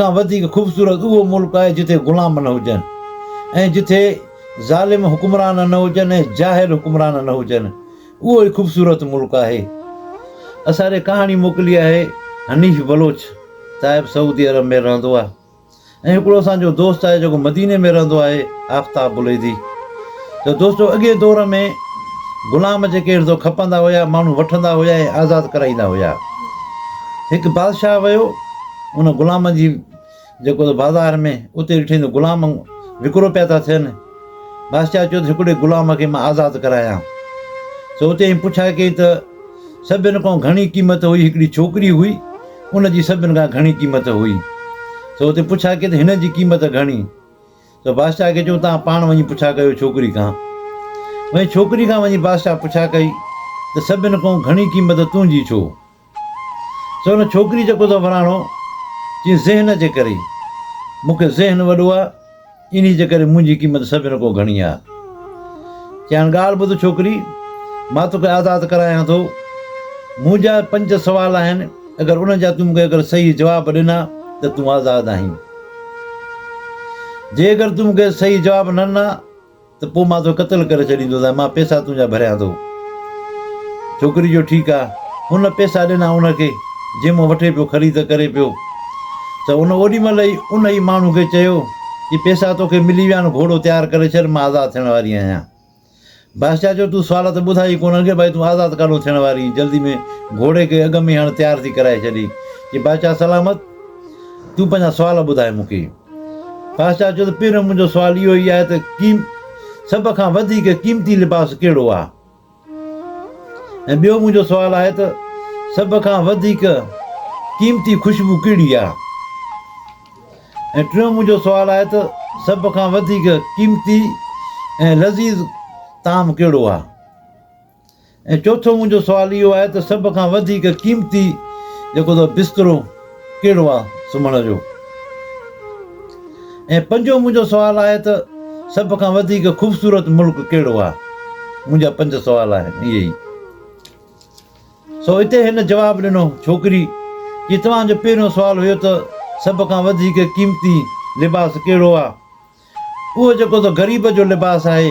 کان وڌيڪ خوبصورت اهو ملڪ آهي جتي غلام نه هجن ۽ جتي ظالم حڪمران نه هجن ۽ جاهل حڪمران نه هجن اهو ئي خوبصورت ملڪ آهي اسان ري ڪهاڻي موڪلي آهي حنيف بلوچ صاحب سعودي عرب ۾ رهندو آهي ۽ هڪڙو اسان جو دوست آهي جيڪو مديني ۾ رهندو آهي آفتاب بليدي ته دوستو اڳي دور ۾ غلام جي ڪير ٿو کپندا هيا ماڻهو وٺندا هيا ۽ آزاد ڪرائيندا هيا هڪ بادشاهه ويو ان غلامن جي جيڪو بازار ۾ اتي ڏٺئي ته غلام وڪرو پيا ٿا ٿين. بادشاهه چيو ته هڪڙي غلام کي مان آزاد ڪرايان. سو اتي ائين پڇا ڪئي ته سڀن کان گهڻي قيمت هئي هڪڙي ڇوڪري هئي، ان جي سڀن کان گهڻي قيمت هئي. سو اتي پڇا ڪئي ته هن جي قيمت گهڻي؟ سو بادشاهه کي چيو توهان پاڻ وڃي پڇا ڪيو ڇوڪري کان. وڃي ڇوڪري کان وڃي بادشاهه پڇا ڪئي ته سڀن کان گهڻي قيمت تنهنجي ڇو؟ سو ان ڇوڪري جيڪو ته وراڻو چيس ذهن جي ڪري مون کي ذهن وڏو آ انهي جي ڪري منهنجي قيمت سڀن کان گهڻي آ چيائين ڳالهه ٻڌ ڇوڪري مان توکي آزاد ڪرايان ٿو منهنجا پنج سوال آهن اگر انهن جا تون مون کي اگر صحيح جواب ڏنا ته تون آزاد آهين جي اگر تون مون کي صحيح جواب نه ڏنا ته پوء مان تو قتل ڪري ڇڏيندوس ۽ مان پيسا تنهنجا ڀريان ٿو. ڇوڪري چيو ٺيڪ آ. هن پيسا ڏنا ان کي، جنهن مان وٺي پيو خريد ڪري پيو ته هن اوڏي مهل ئي ان ئي ماڻهو کي چيو ته پيسا توکي ملي ويا آهن گهوڙو تيار ڪري ڇڏ مان آزاد ٿيڻ واري آهيان. بادشاهه چيو تون سوال ته ٻڌائي ئي ڪونه اڳي ڀائي تون آزاد ڪاڏو ٿيڻ واري آهين جلدي ۾ گهوڙي کي اڳ ۾ هڻ تيار ٿي ڪرائي ڇڏي. چي بادشاهه سلامت تون پنهنجا سوال ٻڌائي مون کي. بادشاهه چيو ته پيرو منهنجو سوال اهو ئي آهي ته قيم سڀ کان وڌيڪ قيمتي لباس ڪهڙو آهي؟ ۽ ٻيو منهنجو سوال آهي ته سڀ کان وڌيڪ قيمتي خوشبو ڪهڙي آهي؟ ۽ ٽيون منهنجو سوال آهي ته سڀ کان وڌيڪ قيمتي ۽ لذيذ طعام ڪهڙو آهي؟ ۽ چوٿون منهنجو سوال اهو آهي ته سڀ کان وڌيڪ قيمتي جيڪو اٿو بسترو ڪهڙو آهي سمهڻ جو؟ ۽ پنجون منهنجو سوال آهي ته سڀ کان وڌيڪ خوبصورت ملڪ ڪهڙو آهي؟ منهنجا پنج سوال آهن اهي ئي. سو اتي هن جواب ڏنو ڇوڪري جي توهان جو پهريون سوال هيو ته سڀ کان وڌيڪ قيمتي لباس ڪهڙو آهي؟ اهو جيڪو ته غريب جو لباس آهي،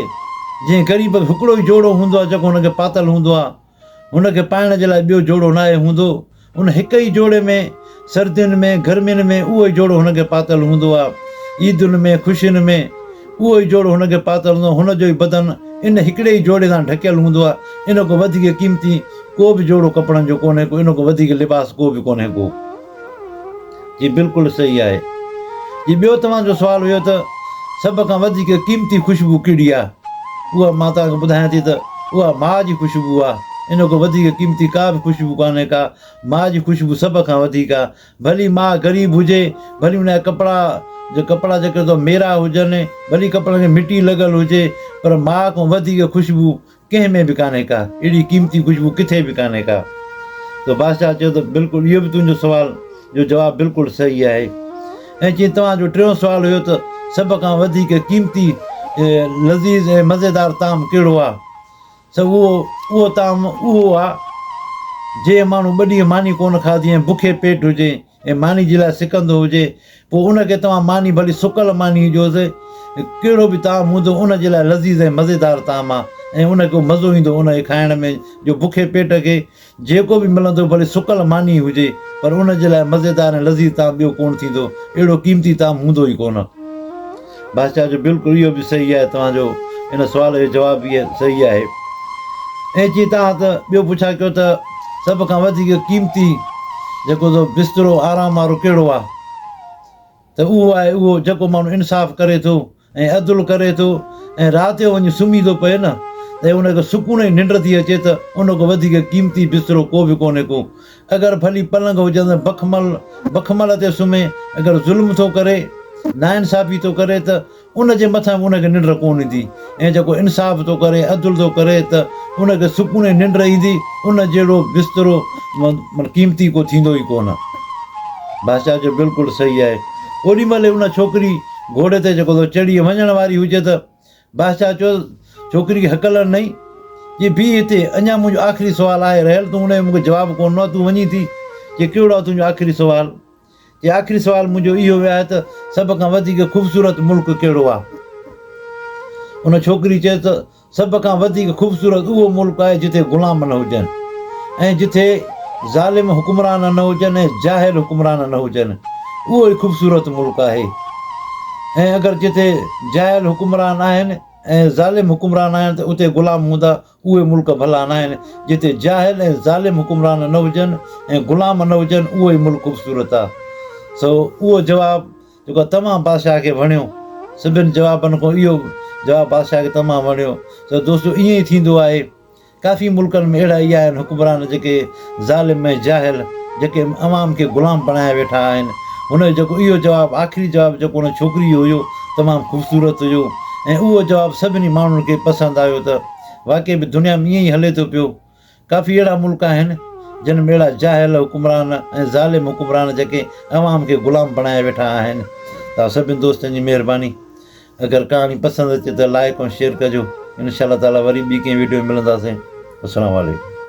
جنهن غريب کي هڪڙو ئي جوڙو هوندو آهي جيڪو هن کي پاتل هوندو آهي، هن کي پائڻ جي لاء ٻيو جوڙو ناهي هوندو، ان هڪ ئي جوڙي ۾ سردين ۾ گرمين ۾ اهو ئي جوڙو هن کي پاتل هوندو آهي، عيدن ۾ خوشين ۾ اهو ئي جوڙو هن کي پاتل هوندو آهي، هن جو ئي بدن ان هڪڙي ئي جوڙي سان ڍڪيل هوندو آهي، ان کان وڌيڪ قيمتي ڪو به جوڙو ڪپڙن جو ڪونهي ڪو، ان کان وڌيڪ لباس ڪو به ڪونهي ڪو. جي بلڪل صحيح آهي. جي ٻيو توهان جو سوال هيو ته سڀ کان وڌيڪ قيمتي خوشبو ڪهڙي آهي اها مان توهان کي ٻڌايان ٿي ته اها ماء جي خوشبو آهي ان کان وڌيڪ قيمتي ڪا به خوشبو ڪانهي ڪا ماء جي خوشبو سڀ کان وڌيڪ آهي ڀلي ماء غريب هجي ڀلي ان جا ڪپڙا جي ڪپڙا جيڪي تو ميرا هجن ڀلي ڪپڙن کي مٽي لڳل هجي پر ماء کان وڌيڪ خوشبو ڪنهن ۾ به ڪانهي ڪا، اهڙي قيمتي خوشبو ڪٿي به ڪانهي ڪا. ته بادشاهه چيو ته بلڪل اهو به تنهنجو سوال جو جواب بلڪل صحيح آهي. ۽ چيائين توهان جو ٽيون سوال هيو ته سڀ کان وڌيڪ قيمتي، لذيذ ۽ مزيدار طعام ڪهڙو آ؟ سو اهو اهو طعام اهو آ جنهن ماڻهو ٻه ڏينهن ماني ڪونه کاڌي ۽ بکي پيٽ هجي ۽ ماني جي لاء سڪندو هجي، پوء ان کي توهان ماني ڀلي سڪل ماني هجيو سي، ڪهڙو به طعام هوندو ان جي لاء لذيذ ۽ مزيدار طعام آ ۽ ان کي مزو ايندو ان کي کائڻ ۾ جو بکي پيٽ کي جيڪو به ملندو ڀلي سڪل ماني ئي هجي پر ان جي لاء مزيدار ۽ لذيذ طعام ٻيو ڪونه ٿيندو اهڙو قيمتي طعام هوندو ئي ڪونه. بادشاهه جو بلڪل اهو به صحيح آهي توهان جو ان سوال جو جواب به صحيح آهي ائين چئي توهان ته ٻيو پڇا ڪيو ته سڀ کان وڌيڪ قيمتي جيڪو سو بسترو آرام وارو ڪهڙو آهي ته اهو آهي اهو جيڪو ماڻهو انصاف ڪري ٿو ۽ عدل ڪري ٿو ۽ رات جو وڃي سمهي ٿو پئي نه ته ان کي سڪون جي ننڊ ٿي اچي ته ان کان وڌيڪ قيمتي بسترو ڪو به ڪونهي ڪو اگر ڀلي پلنگ هجندڙ بخمل بخمل تي سمهي، اگر ظلم ٿو ڪري، ناانصافي ٿو ڪري ته ان جي مٿان به ان کي ننڊ ڪونه ايندي ۽ جيڪو انصاف ٿو ڪري، عدل ٿو ڪري ته ان کي سڪوني ننڊ ايندي، ان جهڙو بسترو معني قيمتي ڪو ٿيندو ئي ڪونه. بادشاهه چيو، بلڪل صحيح آهي. اوڏي مهل ئي ان ڇوڪري گهوڙي تي جيڪو سو چڙهي وڃڻ واري هجي ته. بادشاهه چيو، ڇوڪري کي هڪ لڙ نئين، چي بيهه هتي، اڃا منهنجو آخري سوال آهي رهيل، تون ان جو مون کي جواب ڪونه ڏنو آهي، تون وڃين ٿي؟ چي ڪهڙو آهي تنهنجو آخري سوال؟ چي آخري سوال منهنجو اهو به آهي ته سڀ کان وڌيڪ خوبصورت ملڪ ڪهڙو آهي؟ ان ڇوڪري چيو ته سڀ کان وڌيڪ خوبصورت اهو ملڪ آهي جتي غلام نه هجن ۽ جتي ظالم حڪمران نه هجن ۽ جاهل حڪمران نه هجن، اهو ئي خوبصورت ملڪ آهي. ۽ اگر جتي جاهل حڪمران آهن ۽ ظالم حڪمران آهن ته اتي غلام هوندا، اهي ملڪ ڀلا ناهن، جتي جاهل ۽ ظالم حڪمران نه هجن ۽ غلام نه هجن اهو ئي ملڪ خوبصورت آ. سو اهو جواب جيڪو تمام بادشاهه کي وڻيو. سڀن جوابن کان اهو جواب بادشاهه کي تمام وڻيو. سو دوستو ائين ئي ٿيندو آهي ڪافي ملڪن ۾ اهڙا ئي آهن حڪمران جيڪي ظالم ۽ جاهل جيڪي عوام کي غلام بڻايا ويٺا آهن هن جو جيڪو اهو جواب آخري جواب جيڪو ان ڇوڪري جو هيو تمام خوبصورت هيو ۽ اهو جواب سڀني ماڻهن کي پسند آيو ته واقعي به دنيا ۾ ائين ئي هلي ٿو پيو ڪافي اهڙا ملڪ آهن جن ۾ اهڙا جاهل حڪمران ۽ ظالم حڪمران جيڪي عوام کي غلام بڻايا ويٺا آهن تان سڀني دوستن جي مهرباني. اگر ڪهاڻي پسند اچي ته لائيڪ ۽ شيئر ڪجو انشاء الله تعالي وري ٻي ڪنهن ويڊيو ۾ ملنداسين السلام عليڪم.